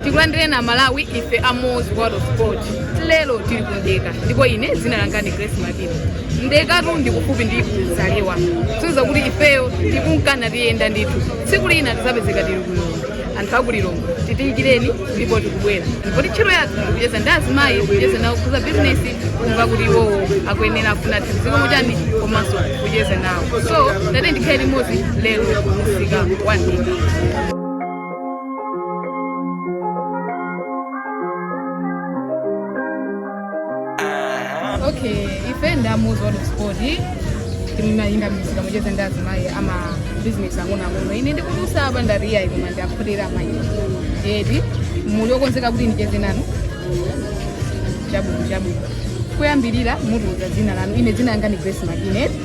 tikulandireni amalawi ife a Moz world of sport lero tili ku mdeka ndipo ine dzina langa ndi grace makina mdekatu ndi kufupi ndi zalewa tinakuuzani kuti ifeyo tikunkana tiyenda ndithu tsiku lina tizapezeka tili ku lilongwe anthu aku lilongwe tidikireni ndipo tikubwera ndipo ntchito yathu ndikucheza ndi azimayi kucheza nawo zokhuza bizinesi kumva kuti iwowo akuyenera afuna tizikomo chani komanso kucheza nawo so tiyeni tikhale limodzi lero kumsika wa mdeka okay ife ndi a Moz world of sport timayenda m'misika kucheza ndi azimayi a mabizinesi ang'onoang'ono ine ndikudutsa apa ndariyayi koma ndakhotera amayi eti muli okonzeka kuti ndicheze nanu chabwino chabwino kuyambirira mutiuze dzina lanu ine dzina langa ndi grace makina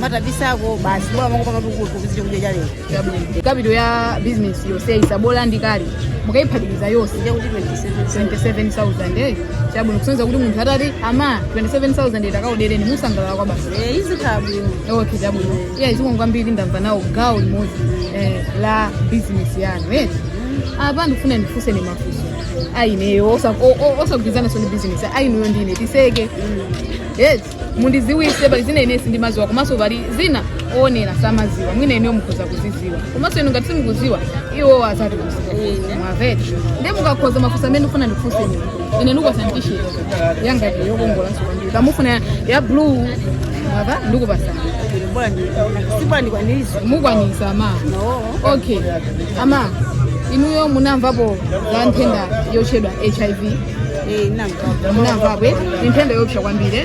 matabisako basi bora mwangu panga tukutu kuzidi kuja jale capital ya business yonse ya tsabola ndi kale mukayiphatikiza yonse nje kuti 27 27000 eh chabwino kusonyeza kuti munthu atati amayi 27000 iyi takaodereni musangalala kwabasi eh izikhala bwino okay chabwino iya zikomo kwambiri ndamva nawo gawo limodzi eh, la business yanu eh apa ndifuna ndikufunseni mafunso ayineyo osagwirizana ndi business ayineyo ndine tiseke yes mundiziwise pali zina ine sindimaziwa komanso pali zina oonera samaziwa mwina ineyo mukhoza kuziziwa komanso inu ngati simukuziwa iwo azatidziwitsa mwamva eti nde mukakhoza mafunso amene ndifuna ndifunse ine ine ndikupasa t-shirt yanga ndi yokongolanso kwambiri kaya mufuna ya blue mwamva ndikupasani mukandikwanitsa mukwanisa amayi okay amayi inuyo munamvapo za nthenda yotchedwa hiv ndinamvapo ni nthenda yoopsa kwambiri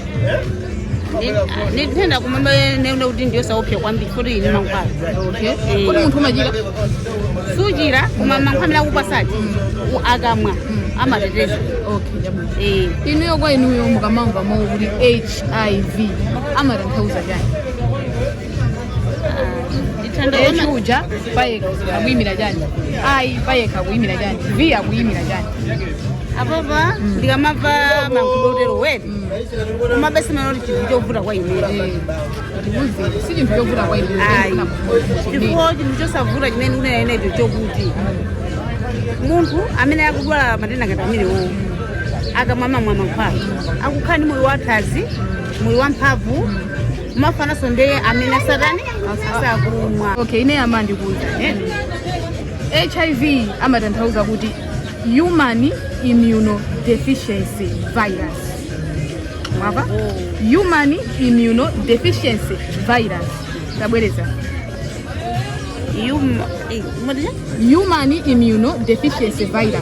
ni nthenda koma ndinene kuti ndiyosaopsa kwambiri poti ili ndi mankhwala okay kodi munthu umachira suchira koma mankhwala amene akupasa u- akamwa amateteza okay chabwino Eh, inuyo kwa inuyo mukamamva mawu kuti hiv amatanthauza chani h uja payekha akuyimira chani i payekha akuyimira chani v akuyimira chani apapa ndikamamva mawu oterowo koma bese manoti chinthu chovuta kwa ineyo ndikuuzeni si chinthu chovuta kwa ine ayi ndipo chinthu chosavuta chimene ndikunena inecho chokuti munthu amene akudwala matenda ngati amenewo akamamwa mankhwala akukhala ndi moyo wathanzi moyo wamphamvu mafanaso ndi amene satana asakumwa okay ine amandiuza hiv amatanthauza kuti human immunodeficiency virus mwamva human immunodeficiency virus tabwereza human eh, mudya human immunodeficiency virus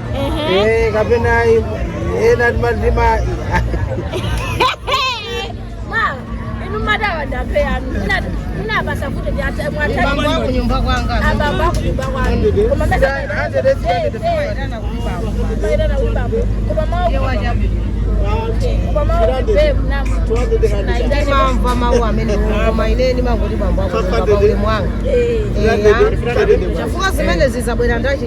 Eh, kapena eh, ena timadziwa mwamva mawu amene koma ine ndimangoti bambo akoaule mwanga chifukwa zimene zizabwera ndi chani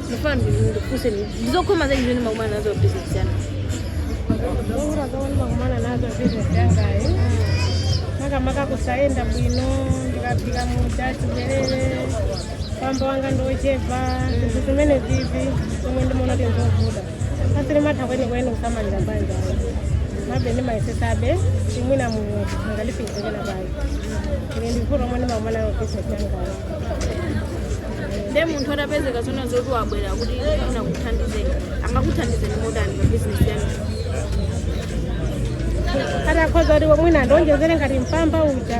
Ndifuna ndikufunseni ndi zokhoma zanji zomwe mumakumana nazo pa business yanu. Zovuta zomwe ndimakumana nazo pa business yangayi. Maka maka kusayenda bwino ndikapika muja tibwerere. Mpamba wanga ndi ochepa zinthu zimenezi ndi zomwe ndimaona kuti nzovuta. Sindimatha kweni kweni kusamalira banja. Komabe ndimayesetsabe kuti mwina mulungu angandifunzire nawo banja. Ndiye ndi vuto lomwe ndimakumana nalo pa business yangayi. nde munthu atapezeka zoona zoti wabwera kuti akuthandizeni angakuthandizeni motani pa bizinesi yanu atakhoza kuti mwina andionjezere ngati mpamba uja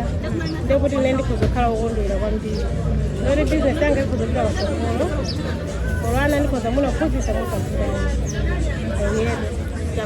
ndekuti ine ndikhoza kukhala wokondwera kwambiri poti bizinesi yanga ikhoza kupita patsogolo olo ana ndikhoza kumawaphunzitsa mukafuta oyeda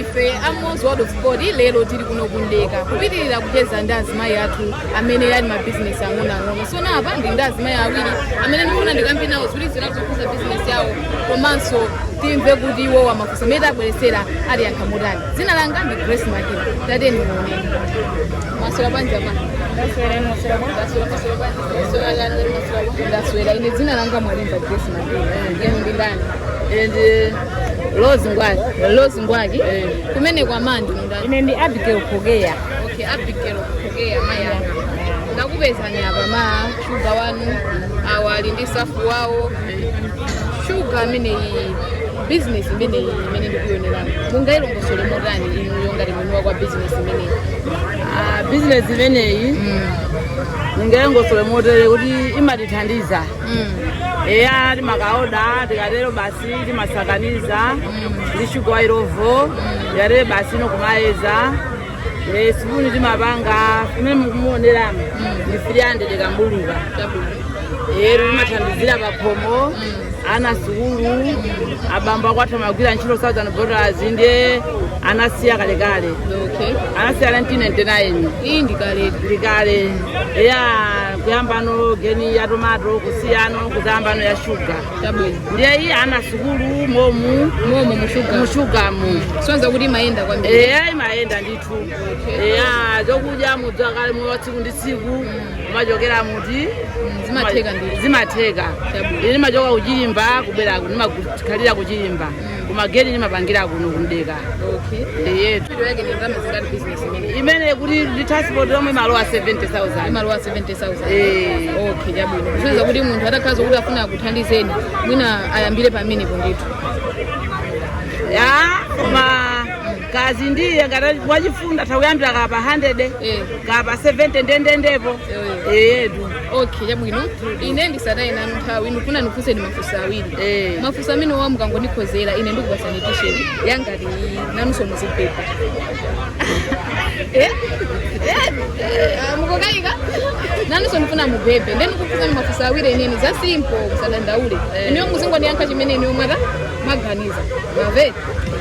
ife a Mmozi World of Sport lero tili kuno ku Mdeka kupitiriza kucheza ndi azimayi athu amene ali mabizinesi ang'onoang'ono so apapa ndili ndi azimayi awiri amene ndikufuna ndikambe nawo zinthu zina zokhudza bizinesi yawo komanso timve kuti iwowa mafunso amene tabweretsera awayankha motani dzina langa ndi grace makina tapatseni moni mwaswera bwanji apa ndaswera ine dzina langa mwalimva grace makina inu ndi ndani ine ndi Rose Ngwaki. Rose Ngwaki. Kumeneko amayi ndi ndani. Ine ndi Abigail Pogea. Okay, Abigail Pogea eya. Ndakupezani apa muli shuga wanu awa ali ndi stuff yawo. Shuga ameneyu business imeneyi imene ndikuyionayi. Mungayilongosole motani inuyo ngati mwini wake wa business imeneyi. Ah, business imeneyi ndingayilongosole motere kuti imatithandiza Mm. eya timakaoda tikatero basi timasakaniza ndi shuga wa Illovo tikatere basi ino kumayeza Eh, sipuni timapanga pamene mukumuoneramu ndi 300 kambuluka eya imathandizira pakhomo ana sukulu abambo akwathu amagwira ntchito Southern Bottlers ndiye anasiya kalekale okay anasiya 1999 iyi ndi kaletu ndikale eya kuyambano geni ya tomato kusiyano kudzayambano ya shuga ndiye iyi ana sukulu momu momu mushuga mushugamu sonza kuti imayenda kwambiri eya imayenda ndithu eya zokudya zodziyikira moyo wa tsiku ndi tsiku kumachokera muti zimatheka ndithu zimatheka Chabwino. ine ndimachoka kuchilimba kubwera ndimakhalira kuchilimba koma geni ndimapangira kuno kumdeka ndiyetu mpamba wake ni ndalama zingati business imene? imene kuti ndi transport yomwe imalowa 70000 Imalowa 70,000. Eh. Okay, chabwino. Kusonyeza kuti munthu atakhala zokuti afuna akuthandizeni, mwina ayambire pamenepo ndithu. ya koma kaya ndiye ngati wachifundo atha kuyambira kaya pa 100 Eh. kaya pa 70 ndendendepo eyetu okay chabwino ine ndisataye nanu nthawi ndikufuna ndikufunseni mafunso awiri Eh. mafunso amenewa mukangondikhozera ine ndikupasani t-shirt yangati nanunso muzibheba mukakayika nanunso ndifuna mubhebhe nde ndikufunseni mafunso awiri eneni za simple musadandaule ineyo muzingondiyankha chimene ineyo mwata mwaganiza mwamva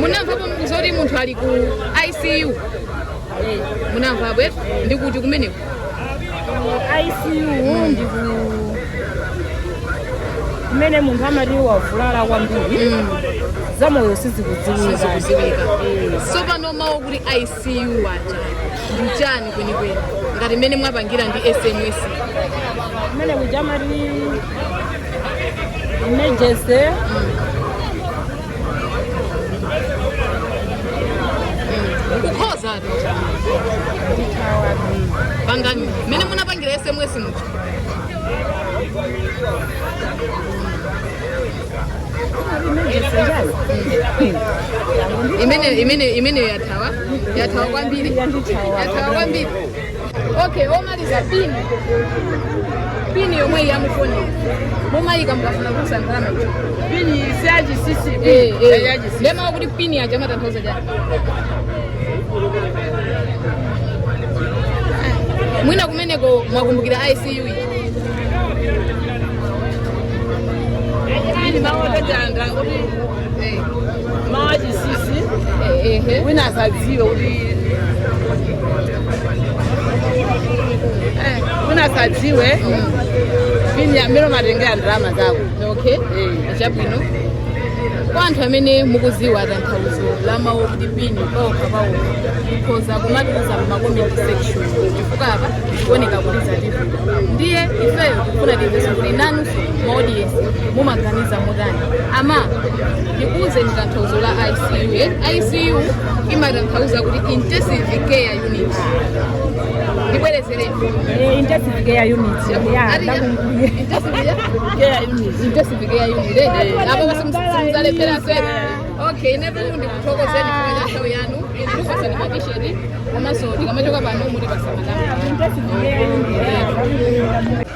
munamvapo zoti munthu ali ku icu Eh, munamvapo eti ndi kuti kumeneko ICU ndi ku- kumene munthu amati wavulala kwambiri zamoyo sizikudziwika sizikudziwika tsopano mawu oti icu aja ndi chani kwenikweni ngati mmene mwapangira ndi sms kumene kuja amati Emergency. kukhozatu pangani mmene munapangira sms muja imene imene imeneyo yathawa yathawa kwambiri yathawa kwambiri okay lomaliza pini pini yomwe iyi yamufoni mumayika mukafuna kutsa ndalama ija pini si ya chinsinsi Eh, eh. ya chinsinsi nde mawu akuti pini aja amatanthauza chani mwina kumeneko mwakumbukira icu ija pini imatanthauza kuti mawu achinsinsi wina asadziwe kuti eh, wina asadziwe pini amene umatengera ndalama zako okay Eh. chabwino kwa anthu amene mukuziwa tanthauzo la mawu kuti pini paokha paokha kukhoza kumatiuza mu comment section chifukwa apa kuoneka kuti zatipo ndiye ifeyo tikufuna timveso kuti nanunso maaudience mumaganiza motani ama ndikuuzeni tanthauzo la icu eh? icu imatanthauza kuti intensive care unit ndibwerezereni Eh, intensive care unit ya ndakumbuye apa basi simuzalephera sena okay inebe ndikuthokozeni kwa nthawi yanu ndikupasani matisheti komanso tikamachoka pano muti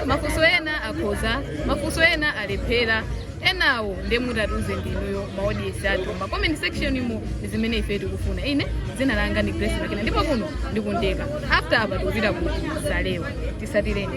mafunso ena akhoza mafunso ena alephera enawo nde mutatiuza ndinuyo maaudience athu ma comment section mu ndi zimene ife tikufuna ine dzina langa ndi grace makina ndipo kuno ndi ku Ndeka after apa tikupita ku zalewa tisatireni